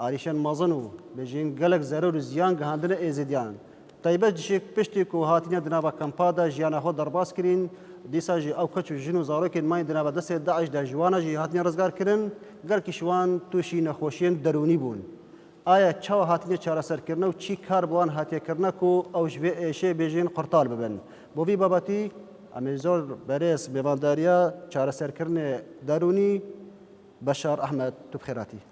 ئاریشەن مەزن و بژین گەلەک زەرەر و زیان گەهاندنە ئێزیدیان. تایبەت جشێک پشتێک و هاتینە دنابە کەمپادا ژیانە خۆ دەرباز کرین، دیسان ژی ئەو کەچ و ژن و زاروکێن ماین دنابە دەسێ داعش دا ژوانا ژی هاتینە رزگار کرن، گەلکیش وان تووشی نەخۆشیێن دەرونی بوون. ئایا چاو هاتینە چارەسەر کرنە و چی کار بوان هاتیە کرنە کو ئەو ژوێ ئێشێ بژین قورتال ببن؟ بۆ ڤی بابەتی، ئەمەی زۆر بەرێز مێوانداریە چارەسەر کرنێ دەرونی، بەشار ئەحمەد توبخێراتی.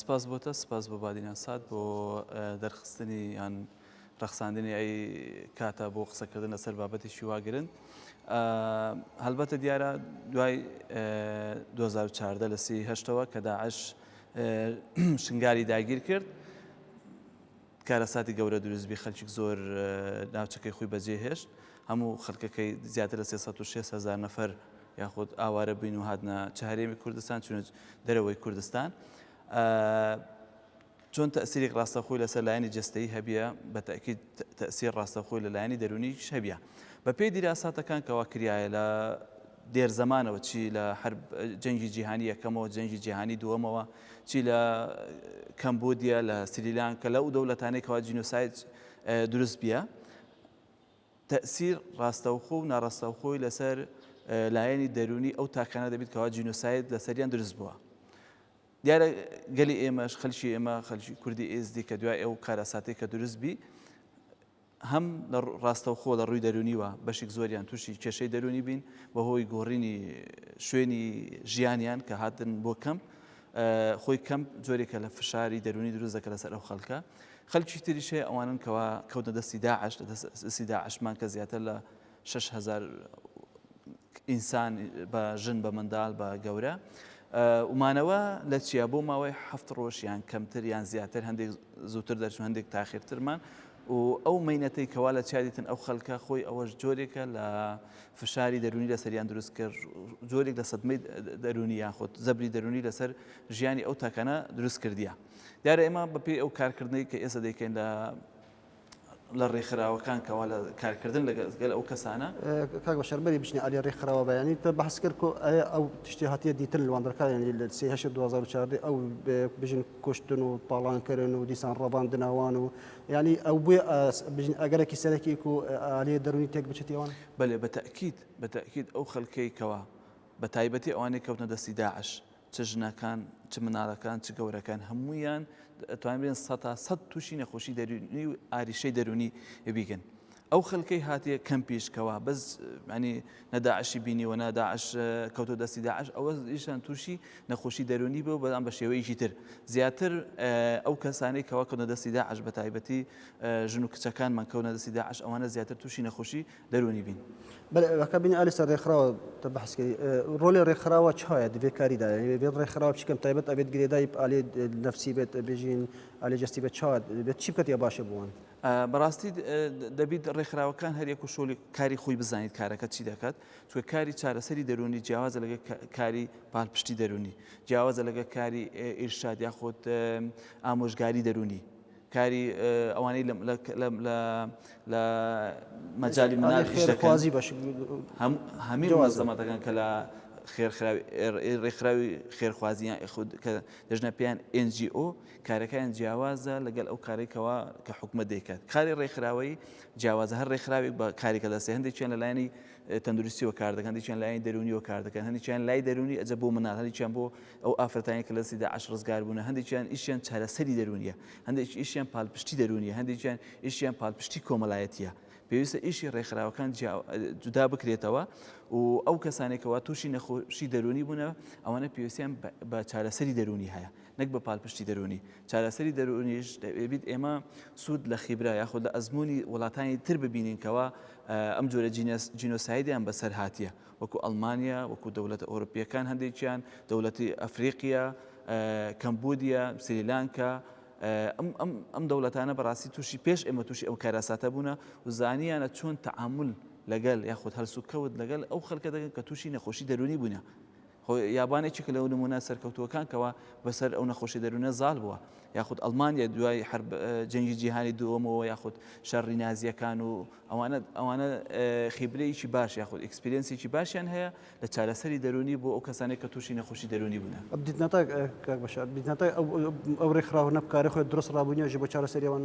سپاس بۆ تە سپاس بۆ بادینان سات بۆ دەرخستنی یان ڕەخساندنی ئەی کاتە بۆ قسەکردن لەسەر بابەتێکی وا گرن هەلبەتە دیارە دوای 2014 لە سی هەشتەوە کە داعش شنگاری داگیر کرد کارەساتی گەورە دروست بی خەلکیک زۆر ناوچەکەی خوی بەجێ هێشت هەمو خەلکەکەی زیاتر لە سێ سەد و شێست هەزار نەفەر یاخود ئاوارە بوین و هاتنە چ هەرێمی کوردستان چونە دەرەوەی کوردستان چۆن تەسیریک ڕاستەخوی لەسەر لایەنی جەستەیی هەبیە بە تەکید تەسیر ڕاستەخوی لە لایەنی دەرونیش هەبیە بە پێی دیراساتەکان کەوا کریایە لە دێر زەمانەوە چی لە حەرب جەنگی جیهانی یەکەمەوە جەنگی جیهانی دووەمەوە چی لە کەمبودیا لە سریلان کە لەو دەولەتانەی کەوا جینۆسایت دروست بیە تەسیر ڕاستەوخۆ و ناڕاستەوخۆی لەسەر لایەنی دەرونی ئەو تاکانە دەبیت کەوا جینۆسایت لەسەریان دروست بووە دیارە گەلی ئێمەش خەلکی ئێمە خەلکی کوردی ئێزدی کە دوای ئەو کارەساتی کە دروست بی هەم لە ڕاستەوخۆ لە ڕووی دەروونیوە بەشیک زۆریان تووشی کێشەی دەروونی بین بە هۆی گۆڕینی شوێنی ژیانیان کە هاتن بۆ کەمپ خۆی کەمپ جۆرێکە لە فشاری دەروونی دروست دەکە لەسەر ئەو خەڵکە خەلکی تریشەیە ئەوانن کەوا کەوتە دەستی داعش لە دەستی داعشمان کە زیاتر لە شەش هەزار ئینسان بە ژن بە منداڵ بە گەورە و مانەوە لە چیا بۆ ماوەی هەفت ڕۆژ یان کەمتر یان زیاتر هەندێک زووتر دەرچوو هەندێک تاخیرترمان و ئەو مینەتەی کەوا لە چادیتن ئەو خەلکە خۆی ئەوەش جۆرێکە لە فشاری دەرونی لە سەریان دروست کرد جۆرێک لە سەدمەی دەرونی یاخود زەبری دەرونی لەسەر ژیانی ئەو تاکانە دروست کردیە دیارە ئێمە بەپی ئەو کارکردنەی کە ئێستا دەیکەین لە لە ڕێکخراوەکان کەوا لە کارکردن لەگەل ئەو کەسانە کاک بەشەر بەری بچنە ئەلی ڕێکخراوە بەیانی تە بەحس کرد کۆ ئەو تشتی هاتیە دیتن لەواندەکانی لە سی هەش 2014 ئەو بژن کوشتن و تاڵانکردن و دیسان ڕەبان دناوان و ینی ئەو بووە بژن ئەگەرەکی سەرەکی و ئالیە دەرونی تێک بچێتیوان بەێ بە تاکیید بە تاکیید ئەو خەلکەی کەوا بە تایبەتی ئەوانەی کەوتنە دەستی داعش چ ژنەکان، چ مناڵەکان، چ گەورەکان هەموویان ئەتوانن بێن سەد تا سەد تووشی نەخۆشی دەروونی و ئاریشەی دەروونی بیگن. ئەو خەلکەی هاتیە کەمپیش کەوا بەس ینی نە داعشی بینیوە نە داعش کەوتۆ دەستی داعش ئەوە ئیشان تووشی نەخۆشی دەروونی بوو بەڵام بە شێوەیەکی تر زیاتر ئەو کەسانەی کەوا کەونە دەستی داعش بە تایبەتی ژن و کچەکانمان کەونە دەستی داعش ئەوانە زیاتر تووشی نەخۆشی دەرونی بین. بەلێ ئەکا بینی ئالی سەر ڕێکخراوە تە بەحس کەی ڕۆلێ ڕێکخراوە چایە دەبێت کاری دا یعنی بێت ڕێکخراوە چیکەم تایبەت ئەبێت گرێدای ئالی نفسی بێت بێژین ئالی جستی بێت چات بێت چی بکەت یا باشە بوون بەڕاستی دەبیت ڕێکخراوەکان هەر یەک و شۆلی کاری خۆی بزانیت کارەکە چی دەکات چوە کاری چارەسەری دەرونی جیاوازە لەگە کاری پالپشتی دەرونی جیاوازە لەگە کاری ئیرشاد یاخۆت ئامۆژگاری دەرونی کاری ئەوانەی لە مەجالی منال ئیش دەکەن هەموو مەنزەمەتەکان کە لە ڕێکخراوی خێرخوازی یان ئێخود کە دەژنە پێیان NGO کارەکەیان جیاوازە لەگەل ئەو کارێکەوە کە حکومەت دەیکات کاری ڕێکخراوەی جیاوازە هەر ڕێکخراوێک بە کارێکە دەستێ هەندێکیان لەلایەنی تەندروستیەوە کار دەکەن هەندێکیان لایەنی دەرونیەوە کار دەکەن هەندێکیان لای دەرونی ئەجە بۆ منال هەندێکیان بۆ ئەو ئافرەتانی کە لە دەستی داعش ڕزگار بوونە هەندێکیان ئیشیان چارەسەری دەرونیە هەندێک ئیشیان پالپشتی دەرونیە هەندێکیان ئیشیان پالپشتی کۆمەلایەتیە پێویستە ئیشی ڕێکخراوەکان جودا بکرێتەوە و ئەو کەسانێکەوە تووشی نەخۆشی دەرونی بوونە ئەوانە پێویستیان بە چارەسەری دەرونی هەیە نەک بە پالپشتی دەرونی چارەسەری دەرونیش دەبیت ئێمە سوود لە خیبرا یاخود لە ئەزمموی وڵاتانی تر ببینینکەوە ئەم جۆرە جینۆسایدیان بەسەر هاتیە وەکو ئەڵمانیا وەکو دەولەتە ئۆرپیەکان هەندێکیان دەولەتی ئەفریقیە کەمبودیە سریلانکە ئەم دەولەتانە بەڕاستی تووشی پێش ئێمە تووشی ئەو کاراساتە بوونە و زانیانە چۆن تعامل لەگەل یاخود هەلسوکەوت لەگەل ئەو خەلکە دەگەن کە تووشی نەخۆشی دەرونی بوونە خۆ یابان یەکێکە لەو نموونە سەرکەوتووەکان کەوا بەسەر ئەو نەخۆشی دەروونە زاڵ بووە یاخود ئەڵمانیا دوای حرب جەنگی جیهانی دووەمەوە یاخود شەڕی نازیەکان و ئەوانە ئەوانە خیبرەیەکی باش یاخود ئەکسپرینسێکی باشیان هەیە لە چارەسەری دەرونی بۆ ئەو کەسانێک کە تووشی نەخۆشی دەرونی بوون ئەو ڕێکخراوە نەبکارە خۆی درست ڕابوونیێژی بۆ چارەسەریەوەن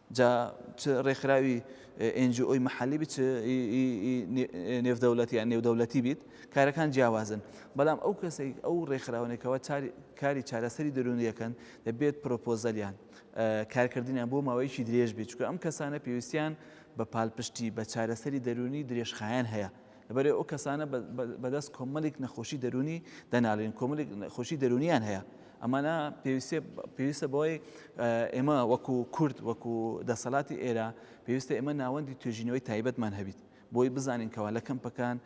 جا چ ڕێکخراوی ئێن جی ئۆی مەحەلی بیت چ نێودەولەتی یان نێودەولەتی بیت کارەکان جیاوازن بەڵام ئەو کەسێک ئەو ڕێکخراونێکەوە کاری چارەسەری دەرونیەکەن دەبێت پرۆپۆزەلیان کارکردنیان بۆ ماوەیەکی درێژ بیت چکە ئەم کەسانە پێویستیان بە پالپشتی بە چارەسەری دەرونی درێژخایەن هەیە لەبەرئ ئەو کەسانە بەدەست کۆمەلێک نەخۆشی دەرونی دەنالێن کۆمەلێک نەخۆشی دەرونیان هەیە ئەمانە پێویستێ پێویستە بۆی ئێمە وەکو کورد وەکو دەسەلاتی ئێرە پێویستە ئێمە ناوەندی توێژینەوەی تایبەتمان هەبیت بۆی بزانین کەوا لە کەمپەکان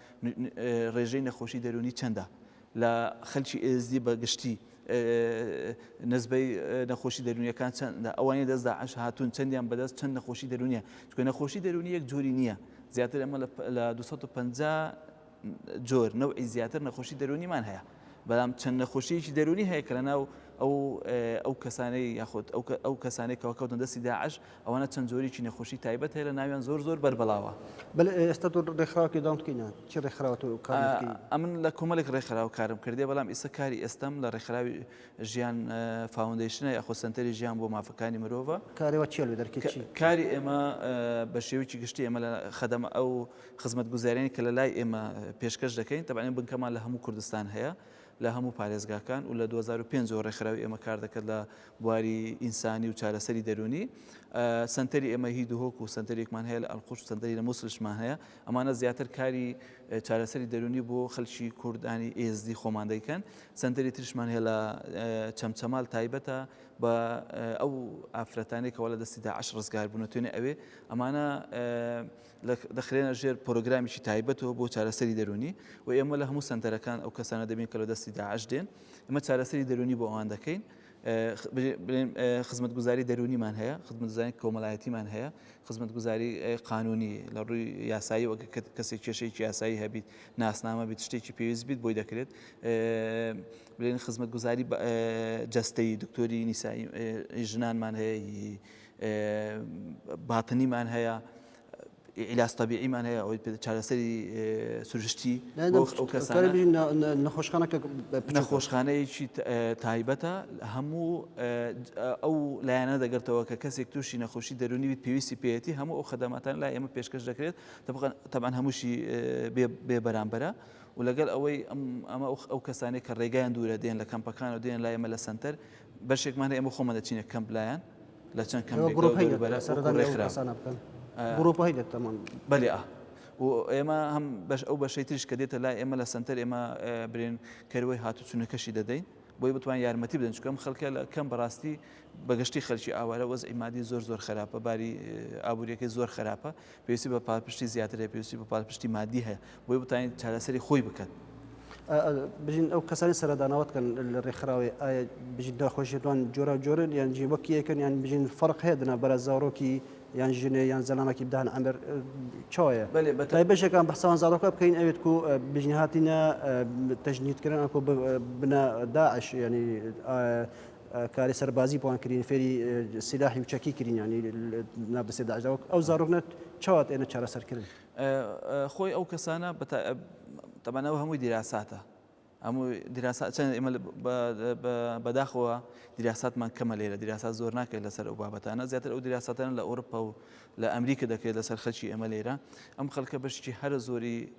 ڕێژەی نەخۆشی دەرونی چەندە لە خەلکی ئێزدی بە گشتی نسبەی نەخۆشی دەرونیەکان چەندە ئەوانی دەست داعش هاتون چەندیان بەدەست چەند نەخۆشی دەرونیە چکە نەخۆشی دەرونی یەک جۆری نییە زیاتر ئەمە لە 250 جۆر نەوەی زیاتر نەخۆشی دەرونیمان هەیە بەڵام چەند نەخۆشیەکی دەرونی هەیە کە لە ناو ئەو ئەو کەسانەی یاخود ئەو کەسانێک کەوەکەوتن دەستی داعش ئەوانە چەند جۆریکی نەخۆشی تایبەت هەیە لە ناویان زۆر زۆر بەر بەلاوە. بەلێ ئێستا تۆ ڕێکخراوەکی داون بکەینە چی ڕێکخراوە تۆ کار دەکەی؟ ئەمن لە کۆمەلێک ڕێکخراو کارم کردیە بەلام ئیسە کاری ئێستەم لە ڕێکخراوی ژیان فاوندەیشنە یاخۆ سەنتەری ژیان بۆ مافەکانی مرۆڤە. کاری وەک چیە لە دەرکی چی؟ کاری ئێمە بە شێوەیکی گشتی ئێمە لە خەدەمە ئەو خزمەتگوزاریانەی کە لە لای ئێمە پێشکەش دەکەین تەبعەن بنکەمان لە هەموو کوردستان هەیە لە هەموو پارێزگاکان و لە دوو هەزار و پێنج ەوە ڕێکخراوی ئێمە کار دەکات لە بواری ئینسانی و چارەسەری دەروونی سەنتەری ئێمە هی دهۆک و سەنتەرێکمان هەیە لە ئەلقوش سەنتەری لە موسلشمان هەیە ئەمانە زیاتر کاری چارەسەری دەروونی بۆ خەلکی کوردانی ئێزدی خۆمان دەیکەن سەنتەری ترشمان هەیە لە چەمچەمال تایبەتە بە ئەو ئافرەتانێکەوە لە دەستی داعش ڕزگار بوونە توێنێ ئەوێ ئەمانە دەخرێنە ژێر پرۆگرامێکی تایبەتەوە بۆ چارەسەری دەرونی و ئێمە لە هەموو سنتەرەکان ئەو کەسانە دەبین کە لە دەستی داعش دێن ئمە چارەسەری دەرونی بۆ ئەوان دەکەین خزمەت گوزاری دەرونیمان هەیە خزمەتزانانی کۆمەلایەتیمان هەیە خزمەت گوزاری قانونی لە ڕووی یاسایی وەک کەسی کێشەیەکی یاسایی هەبیت ناسنامە بیت شتێکی پێویست بیت بۆی دەکرێت بلێن خزمەت گوزاری جستەی دکتۆری نیسایی ژنانمان هەیە باتنیمان هەیە علاج طبیعیمان هەیە ئەوەی چارەسەری سروشتی نەخۆشخانەکە نەخۆشخانەیەکی تایبەتە هەموو ئەو لایەنە دەگرتەوە کە کەسێک تووشی نەخۆشی دەرونی پێویستی پێێتی هەموو ئەو خدەماتان لا ئێمە پێشکەش دەکرێت تەبان هەمووشی بێ بەرامبەرە و لەگەڵ ئەوەی ئەمە ئەو کەسانی کە ڕێگەیان دوورە دێن لە کەمپەکان و دێن لایەمە لە سنتەر بەشێکمان هەیە ئێمە خۆمان دەچینە کەمپ لایان لە چەند کەم بەێ و ئێمە هەم بەش ئەو بەشەی تریش کە دێتە لای ئێمە لە سنتەر ئێمە برێن کەروەی هاتوچونەکەشی دەدەین بۆی بتوان یارمەتی بدەن چکەم خەڵکە لە کەم بەڕاستی بەگشتی خەلکی ئاوارە وەز ئیمادی زۆر زۆر خراپە باری ئابوووریەکەی زۆر خراپە پێویستی بە پالپشتی زیاتر هەیە، پێویستی بە پالپشتی مادی هەیە، بۆی بتوانێت چارەسەری خۆی بکەت. بژین ئەو کەسانی سەردانەوەت کەن لە ڕێکخراوەی ئایا بژین داخۆشیتوان جۆرا جۆرن یان جی وەک یەکن یان بژین فەرق هەیە دنا بەرە زارۆکی یان ژنێ یان زەلامەکی بدان ئەمر چۆیە بەتای بەشەکان بەسان زارۆکە بکەین ئەوێت کو بژین هاتینە تەژنیتکردن ئەکۆ بنا داعش ینی کاری سەربازی بوان کرین فێری سلاحی و چەکی کرین یانی نا بسێ داعشدا وەک ئەو زارۆکنە چاوات ئێنە چارەسەر کرد خۆی ئەو کەسانە تەمانەوە هەمووی دیراساتە هەموو دیراسا چەند ئمە بەداخەوە دیراساتمان کەمە لێرە دیراسا زۆر ناکرێت لەسەر ئەو بابەتانە زیاتر ئەو دیراساتەن لە ئەوروپا و لە ئەمریکا دەکرێت لەسەر خەلکی ئەمە لێرە ئەم خەلکە بەشتی هەرە زۆری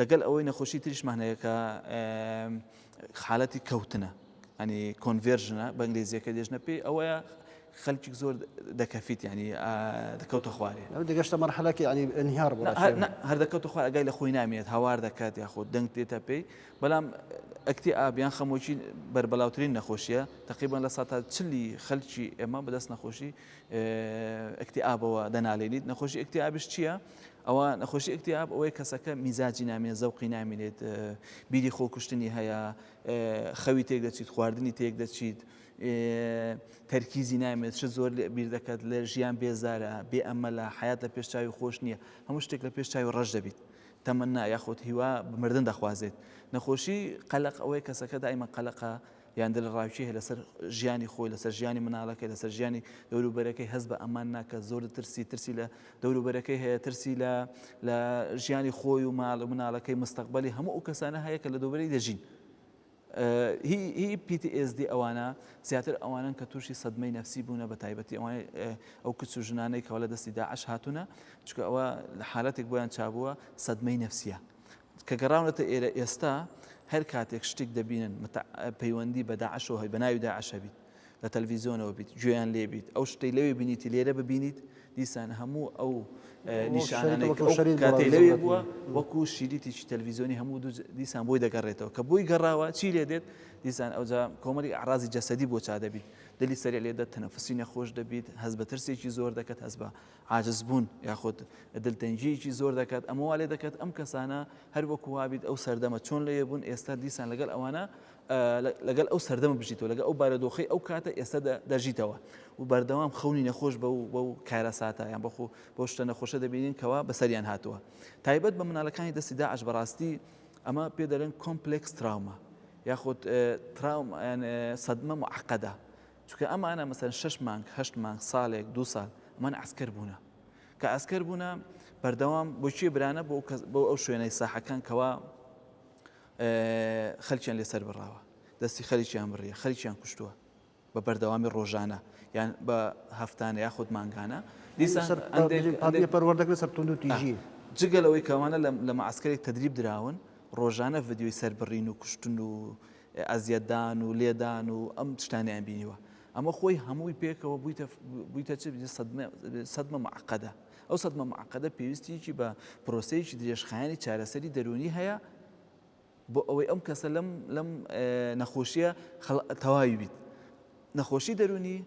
لەگەل ئەوەی نەخۆشی تریشمان هەیە کە حالەتی کەوتنە ئەنی کۆنڤێرژنە بە ئنگلیزیەکە دێژنە پێی ئەوەیە خەلکی زۆر دەکەفیت ینی دەکەوتە خوارێ دەگەشتە مەرحەلەکی ینی ئەنیار هەر دەکەوتە خوار ئەگای لە خۆی نامێت هاوار دەکات یاخود دەنگ دێتە پێی بەڵام ئەکتی ئابیان خەمۆکی بەربەلاوترین نەخۆشیە تقریبان لە ساتا چلی خەلکی ئێمە بەدەست نەخۆشی ئەکتی ئابەوە دەنالێنیت نەخۆشی ئەکتی ئابش چییە؟ ئەوە نەخۆشی ئەکتیاب ئەوەی کەسەکە میزاجی نامێ زەوقی نامێنێت بیری خۆکوشتنی هەیە خەوی تێک دەچیت خواردنی تێک دەچیت تەرکیزی نامێت چ زۆر لە بیر دەکات لە ژیان بێزارە بێ ئەمە لە حیات لە پێشچوی خۆش نییە هەموو شتێک لە پێشچوی ڕەش دەبیت تەمەنا یاخۆت هیوا بمردن دەخوازێت نەخۆشی قەلق ئەوەی کەسەکە دایمە قەلقە یان دلڕاوکێ هەیە لەسەر ژیانی خۆی، لەسەر ژیانی مناڵەکەی، لەسەر ژیانی دەوروبەرەکەی، هەست بە ئەمان ناکات، زۆر دەترسی، ترسی لە دەوروبەرەکەی هەیە، ترسی لە لە ژیانی خۆی و ماڵ و مناڵەکەی، مستەقبەلی هەموو ئەو کەسانە هەیە کە لە دەوروبەری دەژین. هی هی PTSD ئەوانە زیاتر ئەوانەن کە تووشی سەدمەی نەفسی بوونە بە تایبەتی ئەوانەی ئەو کچ و ژنانەی کە لە دەستی داعش هاتوونە، چونکە ئەوە لە حالەتێک بۆیان چابووە سەدمەی نەفسییە. کە گەڕاونەتە ئێرە ئێستا هەر کاتێک شتێک دەبینن پەیوەندی بە داعشەوە هەی بە ناوی داعش هەبیت لە تەلویزیۆنەوە بیت گوێیان لێبیت ئەو شتەی لەوێ بینیتی لێرە ببینیت دیسان هەموو ئەو نیشانانەی کاتێک لەوێ بووە وەکو شیریتیی تەلویزیۆنی هەموو دیسان بۆی دەگەڕێتەوە کە بۆی گەڕاوە چی لێ دێت دیسان ئەوجا کۆمەری عرازی جەسەدی بۆ چا دەبیت دلی سەری لێ دە تەنەفسی نەخۆش دەبیت هەز بە ترسێکی زۆر دەکەت هەز بە عاجزبوون یاخود دلتەنگییەکی زۆر دەکات، ئەمە وا لێدەکات ئەم کەسانە هەر وەکو وابیت ئەو سەردەمە چۆن لەوێ بوون ئێستا دیسان لەگەڵ ئەوانە لەگەڵ ئەو سەردەمە بژیتەوە لەگەڵ ئەو بارەدۆخەی ئەو کاتە ئێستا دەژیتەوە و بەردەوام خەونی نەخۆش بە و بە و کارەساتە یان بەخۆ بەو شتە نەخۆشە دەبینین کەوا بەسەریان هاتووە تایبەت بە منالەکانی دەستی داعش بەڕاستی ئەمە پێ دەلێن کۆمپلکس تراومە یاخود تراوم سەدمە معقەدە چونکە ئەمانە مەسەن شەش مانگ هەشت مانگ ساڵێک دوو ساڵ ئەمان ئەسکەر بوونە کە ئەسکەر بوونە بەردەوام بۆ چێ برانە بۆ بۆ ئەو شوێنەی ساحەکان کەوا خەلچیان لەسەر بڕاوە دەستی خەریکیان بڕیە خەریکیان کوشتووە بە بەردەوامی ڕۆژانە یان بە هەفتانە یا خودت مانگانە پەروەردەکە سەر تونند و تیژی جگەلەوەی کەوانە لە مەعسکەری تدریب دراون ڕۆژانە ڤدیۆی سەربڕین و کوشتن و ئەزیەتدان و لێدان و ئەم شتانەیان بینیوە ئەمە خۆی هەمووی پێکەوە بوویتە بوویتە چ بینی سەدمە معقەدە ئەو سەدمە معقەدە پێویستیکی بە پرۆسەیەکی درێژخایانی چارەسەری دەرونی هەیە بۆ ئەوەی ئەم کەسە لەم لەم نەخۆشیە تەواوی بیت نەخۆشی دەرونی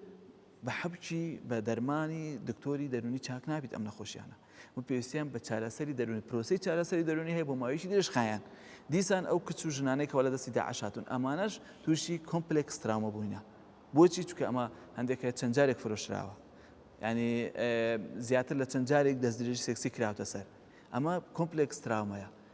بە حەبکی بە دەرمانی دکتۆری دەرونی چاک نابیت ئەم نەخۆشیانە و پێویستیان بە چارەسەری دەروونی پرۆسەی چارەسەری دەروونی هەیە بۆ ماوەیەکی درێژخایەن دیسان ئەو کچ و ژنانەی کەوا لە دەستی داعش هاتوون ئەمانەش تووشی کۆمپلێکس تراومە بووینە بۆچی چونکە ئەمە هەندێک هەیە چەند جارێک فرۆشراوە ینی زیاتر لە چەند جارێک دەستدرێژی سێکسی کراوتە سەر ئەمە کۆمپلێکس تراومەیە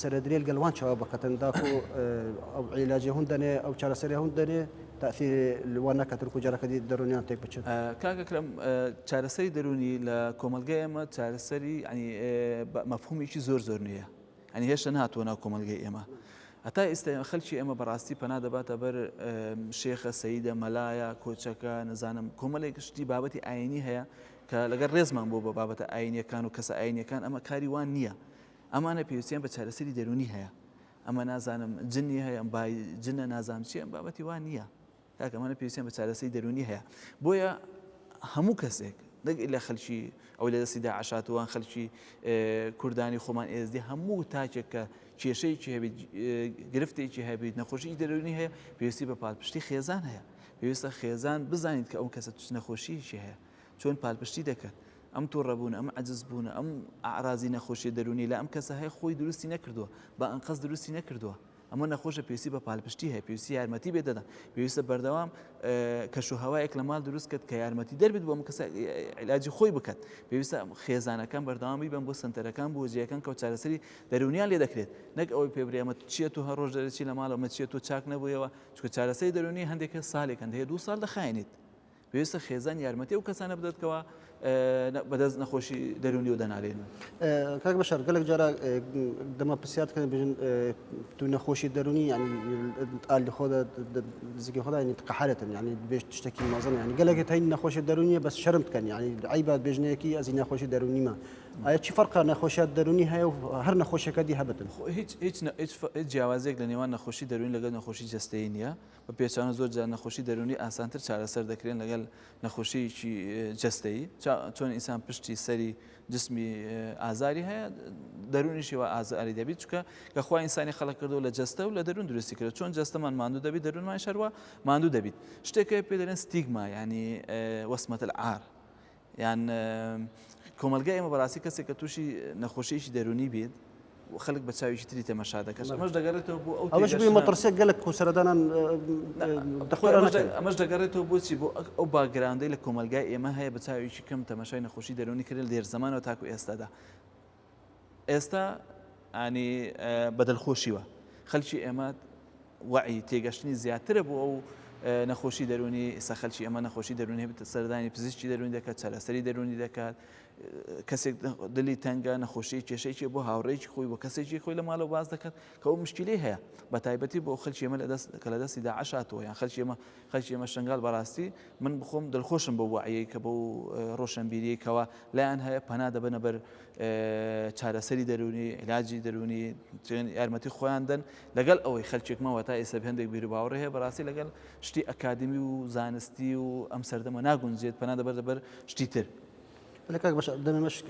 سەرەدرێل گەل وان چاوا بکەتن داکو ئەو عیلاجێ هون دەنێ ئەو چارەسەرێ هون دەنێ تەئسیر لە وان نەکەتن کو جارەکە دی دەرونیان تێک بچن. کاک ئەکرەم چارەسەری دەرونی لە کۆمەلگای ئێمە چارەسەری یانی بە مەفهومێکی زۆر زۆر نوێیە یانی هێشتا نەهاتوە ناو کۆمەلگەی ئێمە هەتا ئیستا خەلکی ئێمە بەراستی پەنا دەباتە بەر شێخە سەیدە مەلایە کۆچەکە نەزانم کۆمەلێک شتی بابەتی ئاینی هەیە کە لەگەر رێزمان بۆ بە بابەتە ئاینیەکان و کەسە ئاینیەکان ئەمە کاری وان نیە ئەمانە پێویستیان بە چارەسەری دەروونی هەیە ئەمە نازانم جنی هەیەم بای جنە نازانم چیە بابەتی وان نییە کاکەمانە پێویستیان بە چارەسەری دەروونی هەیە بۆیە هەموو کەسێک نەک لە خەلکی ئەو لە دەستی داعشاتوان خەلکی کوردانی خۆمان ئێزدی هەموو تاکێک کە کێشەیەکی هەبێت گرفتێکی هەبێت نەخۆشی دەرونی هەیە پێویستی بە پادپشتی خێزان هەیە پێویستە خێزان بزانیت کە ئەو کەسە توش نەخۆشیی هەیە چۆن پالپشتی دەکەن ئەم توڕەبوون ئەم عجز بوونە ئەم ئارازی نەخۆشیە دەرونی لە ئەم کەسە هەیە خۆی دروستی نەکردووە بە ئەنقەز دروستی نەکردووە ئەمە نەخۆشە پێویستی بە پالپشتی هەیە پێویستی یارمەتی بێ دەدەن پێویستە بەردەوام کەش و هەوایەک لە ماڵ دروست کرد کە یارمەتی دەربێت بۆ کەس علاجی خۆی بکات پێویستە خێزانەکان بەردەوامی بن بۆ سنتەرەکان بۆ جیەکان کە چارەسەری دەرونیان لێ دەکرێت نەک ئەوەی پێبرێمە چیە تو هەر ڕۆژ دەرەچی لە ماڵەمە چیە تۆ چاک نەبوویەوە چکە چارەسەری دەرونی هەندێکە سالێک هەندەیە دوو سال دەخایێنیت پێویستە خێزان یارمەتی ئەو کەسانە بدات کەوا بەدەست نەخۆشی دەرونی و دەنالێن کاک بەشار گەلک جارە دەمە پرسیات کە بژن تو نەخۆشی دەرونی ئالی خۆدا زیگە خۆدا ینی تقحرەتن ینی بێش شتێکی مەزن ینی گەلێکی تاین نەخۆشی دەرونیە بەس شەرم بکەن ینی عیبات بێژنەیەکی ئەزی نەخۆشی دەرونیمە ئایا چی فەرقا نەخۆشیات دەرونی هەیە و هەر نەخۆشەکە دی هەبتن هیچ هیچ جیاوازێک لە نێوان نەخۆشی دەرونی لەگەل نەخۆشی جستەی نیە بە پێچەوانە زۆر جار نەخۆشی دەروونی ئاسانتر چارەسەر دەکرێن لەگەل نەخۆشیەکی جەستەیی چۆن ئینسان پشتی سەری جسمی ئازاری هەیە دەرونیشی و ئازاری دەبیت چکە کە خخوای ئینسانی خەڵک کردو لە جستە و لە دەرون درستی کرد چۆن جستەمان ماندو دەبیت دەرونمان شەروە ماندو دەبیت شتێکە پێ دەێن ستیگما ینی وەسمەت عار یان کۆمەلگای ئێمە بەراستی کەسێک کە توشی نەخۆشیەکی دەرونی بیت خەلک بە چاویکی تری تەمەشا دەکەن ئەمەش دەگەرێتەوە بۆ ئەو ئەوەش بووی مەترسێک گەلک کوسەرەدانان ئەمەش دەگەرێتەوە بۆچی بۆ ئەو باگراندەی لە کۆمەلگای ئێمە هەیە بە چاویکی کەم تەمەشای نەخۆشی دەرونی کرێن لێرزەمانەوە تاکو ئێستادا ئێستا ئانی بەدلخۆشیوە خەلکی ئێمە وعی تێگەشتنی زیاترە بۆ ئەو نەخۆشی دەرونی ئسا خەلکی ئەمە نەخۆشی دەرونی بتە سەردانی پزیشتی دەرونی دەکات چارەسەری دەرونی دەکات کەسێک دلی تەنگە نەخۆشی کێشەیەکی بۆ هاوڕێکی خۆی بۆ کەسێکی خۆی لە ماڵەوە باز دەکات کە ئەو مشکلی هەیە بە تایبەتی بۆ خەلکی ئەمە لە دەست کە لە دەستی داعشاتەوە یان خەلکی ئەمە خەلکی ئێمە شەنگال بەراستی من بخۆم دلخۆشم بەو وەعیەی کە بەو رۆشەنبیریەی کەوا لایان هەیە پەنا دەبەنە بەر چارەسەری دەرونی علاجی دەرونی یارمەتی خۆیان دەن لەگەل ئەوەی خەلکێک ماوە تا ئیسە هەندێک بیرو باوەڕی هەیە بەراستی لەگەل شتی ئەکادمی و زانستی و ئەم سەردەمە ناگونجێت پەنا دەبەردە بەر شتی تر. لە کاک بەش دەمێ مەشک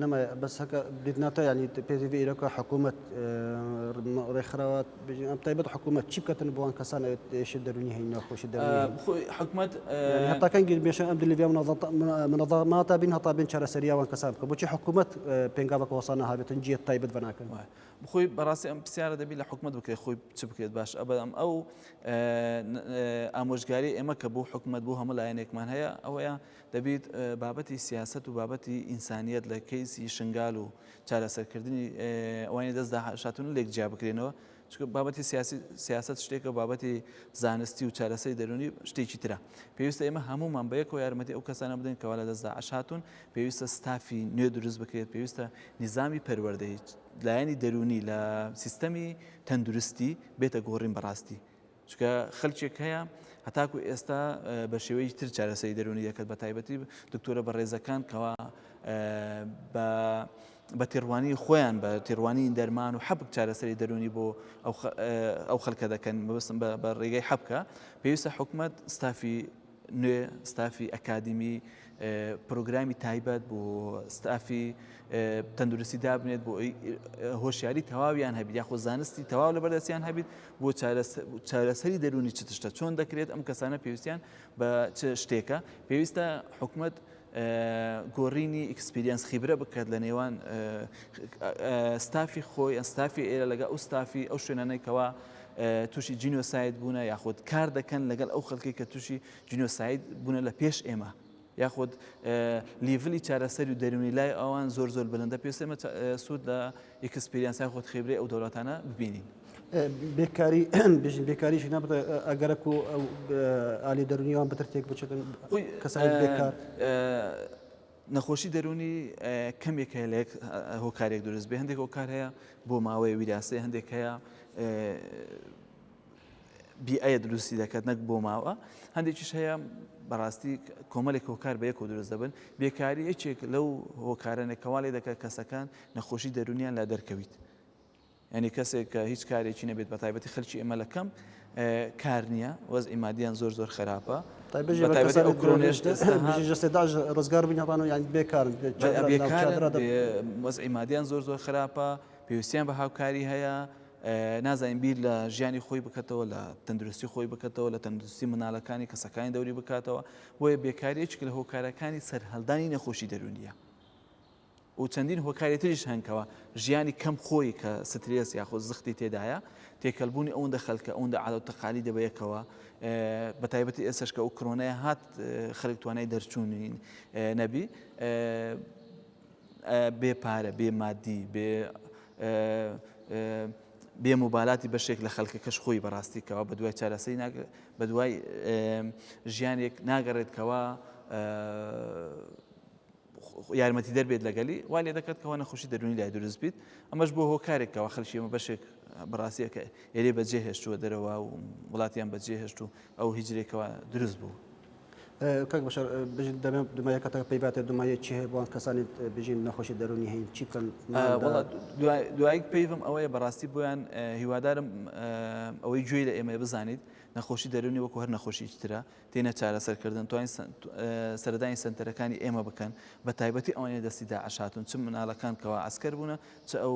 لەمە بەس هەکە دیدناتە ینی پێزی ئیرەکە حکوومەت ڕێکخراوە ئەم تایبەت حکوومەت چی بکەن بۆن کەسان ئێشی دەرونی هەین ناخۆشی دە حکوومەت هەتاکەن گربێشە ئەم دلیبیا منەڵماتە بین هەتا بین چارەسەریاوان کەسان بکە بۆچی حکوومەت پێنگاوە کۆسانە هاوێتن جێت تایبەت بەناکەن وایە بخۆی بەڕاستی ئەم پرسیارە دەبی لە حکومت بکرێت خۆی چ بکرێت باش ئەبەم ئەو ئامۆژگاری ئێمە کە بۆ حکومت بۆ هەموو لایەنێکمان هەیە ئەوەیە دەبیت بابەتی سیاسەت و بابەتی ئینسانیەت لە کەیسی شنگال و چارەسەر کردنی ئەوانی دەست داهشاتون لێک جیا بکرێنەوە چکە بابەتی سیاسی سیاست شتێکە بابەتی زانستی و چارەسەری دەرونی شتێکی ترە پێویستە ئێمە هەمومان بە یەکەوە یارمەتی ئەو کەسانە بدەین کەوا لە دەستدا عشاتون پێویستە ستافی نوێ دروست بکرێت پێویستە نظامی پەروەردەی لایەنی دەرونی لە سیستەمی تەندروستی بێتە گۆڕین بەڕاستی چونکە خەلکێک هەیە هەتاکو ئێستا بە شێوەی تر چارەسەری دەرونی دەکەت بە تایبەتی دکتۆرە بە ڕێزەکان کەوا بە بە تێڕوانی خۆیان بە تێڕوانی دەرمان و حەبک چارەسەری دەرونی بۆ ئەو خەلکە دەکەن بەستم بە ڕێگەی حەبکە پێویستە حکومت ستافی نوێ ستافی ئەکادیمی پرۆگرامی تایبەت بۆ ستافی تەندروستی دابنێت بۆ هۆشیاری تەواویان هەبیت یاخۆ زانستی تەواو لە بەردەستیان هەبیت بۆ چارەسەری دەرونی چ تشتە چۆن دەکرێت ئەم کەسانە پێویستیان بە چ شتێکە پێویستە حکومت گۆرینی ئیکسپریانس خیبرە بکات لە نێوان ستافی خۆی ئەستافی ئێرە لەگە ئەو ستافی ئەو شوێنانێکەوە تووشی جینۆساید بوونە یاخود کار دەکەن لەگەڵ ئەو خەڵکی کە تووشی جینۆساید بوونە لە پێش ئێمە یاخود لیڤلی چارەسەری و دەرونی لای ئەوان زۆر زۆر بلندە پێسێمە سوود لە ئیکسپریانسای خۆت خێبرەی ئەو دەولاتانە ببینین بێکاری بژین بێکاری ژینا بڵێ ئەگەرەک و ئالی دەرونیوان بەتر تێک بچێتن کەسانی بێکار نەخۆشی دەرونی کەمێک هەیە لە هۆکارێک دروست بێ هەندێک هۆکار هەیە بۆ ماوەی ویراسی هەندێک هەیە بیایە دروستی دەکات نەک بۆ ماوە هەندێکیش هەیە بەڕاستی کۆمەلێک هۆکار بە یەکۆ دروست دەبن بێکاری یەکێک لەو هۆکارەنە کەواڵی دەکات کەسەکان نەخۆشی دەرونیان لا دەرکەویت ینی کەسێک کە هیچ کارێکی نەبێت بە تایبەتی خەلکی ئێمە لە کەم کار نییە وەز ئیمادیان زۆر زۆر خراپە ڕزگار بینەڕان و یان بێکارن وەز ئیمادیان زۆر زۆر خراپە پێویستیان بە هاوکاری هەیە نازانین بیر لە ژیانی خۆی بکەتەوە، لە تەندروستی خۆی بکەتەوە، لە تەندروستی مندالەکانی، کەسەکانی دەوری بکاتەوە، بۆیە بێکاری یەکێکە لە هۆکارەکانی سەرهەلدانی نەخۆشی دەرونیە. و چەندین هۆکاری تریش هەن کەوا ژیانی کەم خۆی کە سترێس یاخۆ زختی تێدایە تێکەلبوونی ئەوەندە خەلکە ئەوەندە عادە و تەقالی دەبەیەکەوە بە تایبەتی ئێسش کە ئەو کرۆنای هات خەلک توانای دەرچوونین نەبی بێ پارە، بێ مادی، بێ بێ موبالاتی بەشێک لە خەلکەکەش خۆی بەڕاستی کەەوە بە دوای چارەسەی بە دوای ژیانێک ناگەڕێت کەەوە یارمەتی دەربێت لەگەلی وا لێ دەکات کەەوە نەخۆشی دەرونی لای دروست بیت ئەمەش بۆ هۆکارێکەوە خەلکیمە بەشێک بەڕاستیەکە ئێرێ بەجێ هێشتووە دەرەوە و وڵاتیان بەجێ هێشت و ئەو هیجرێکەوە دروست بوو. کاک بەشەر بژیت دەمێ دومایە کاتەکە پێی باتێ دومایە چی هەیە بۆن کەسانی بژین نەخۆشی دەرونی هەین چی بکەن دوایک پێیڤم ئەوەیە بەڕاستی بۆیان هیوادارم ئەوەی گوێی لە ئێمە بزانیت نەخۆشی دەرونی وەکو هەر نەخۆشی ترە تێنە چارەسەرکردن توانین سەردانی سنتەرەکانی ئێمە بکەن بە تایبەتی ئەوانێ دەستی داعشاتون چ منالەکان کەوا ئەسکەر بوونە چ ئەو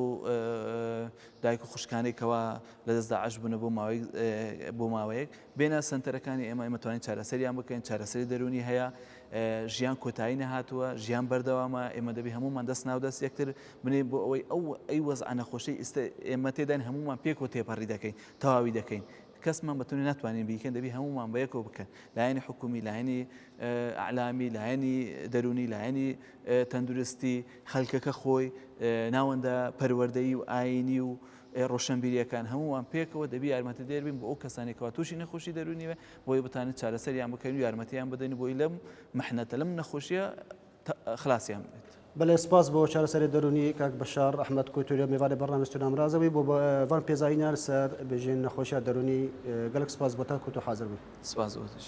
دایک و خوشکانێکەوە لە دەست داعش بوونە بۆ ماوەی بۆ ماوەیەک بێنە سەنتەرەکانی ئێمە ئێمە توانین چارەسەریان بکەین چارەسەری دەروونی هەیە ژیان کۆتایی نەهاتووە ژیان بەردەوامە ئێمە دەبی هەمومان دەست ناو دەست یەکتر بنین بۆ ئەوەی ئەو ئەی وەزع نەخۆشی ئیستا ئێمە تێداین هەمومان پێکەوە تێپەڕی دەکەین تەواوی دەکەین کەسمان بەتونی ناتوانین بیکەن دەبی هەمومان بە یەکەوە بکەن لایەنی حکومی لایەنی ئەعلامی لایەنی دەروونی لایەنی تەندروستی خەلکەکە خۆی ناوەندە پەروەردەیی و ئاینی و ئێ ڕۆشەنبیریەکان هەموومان پێکەوە دەبی یارمەتیدەر بین بۆ ئەو کەسانەی کەوا توشی نەخۆشی دەروونی بێ بۆی بتانین چارەسەریان بکەین و یارمەتیان بدەین بۆی لەم محنەتە لەم نەخۆشیە خلاصیان بێت. بەلێ سپاس بۆ چارەسەری دەروونی کاک بەشار ئەحمەد کوتوریە میوانی بەرنامەی ستونا مرازەوەی بۆ بان پێزانینیان سەر بژین نەخۆشیە دەروونی گەلەک سپاس بۆ تان کوتو حازر بوون. سپاس بۆ تۆش.